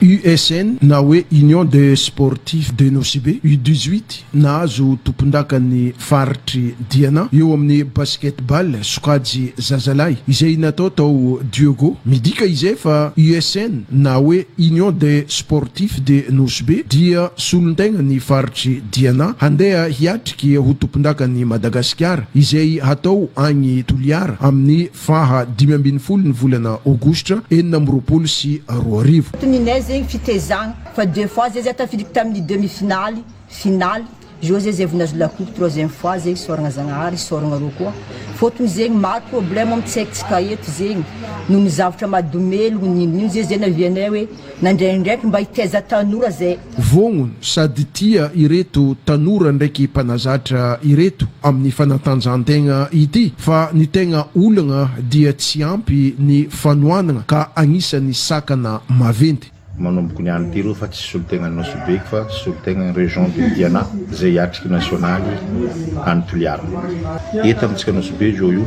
USN na hoe Union des Sportifs de Nosy-Be, U dix-huit, nahazo tompondakan'ny faritr'i Diana eo amin'ny basket-ball sokajy zazalahy izay natao tao Dieugo. Midika izay fa USN na hoe Union des Sportifs de Nosy-Be dia solontenan'ny faritr'i Diana handeha hiatrika ho tompondakan'i Madagasikara izay hatao agny Toliara amin'ny Faha dimy ambin'ny folo ny volana aogositra enina amby roapolo sy roa arivo. Tsy ninay zegny fitezagna fa deux fois zay zah tafiditry tamin'ny demi finaly, finaly, zao zay zay vao nahazo la coupe troisième fois zay isaoragna zagnahary isaoragna arô koa fôtony zegny maro problème am tsaikintsika eto zegny noho ny zavatra mahadomelogno n'ino n'ino zay zay nahavianay hoe nandray andraikitry mba hitaiza tanora zay Vongo sady tia ireto tanora ndraiky mpanazatra ireto amin'ny fanatanjahan-tegna ity fa ny tegna olagna dia tsy ampy ny fanohanagna ka agnisan'ny sakana maventy. Manomboka ny any Piro fa tsy solontenan'i Nosy Be fa solontenan'ny Région de Diana izay hiatriky nasionaly any Toliara. Eto amintsika Nosy Be zao io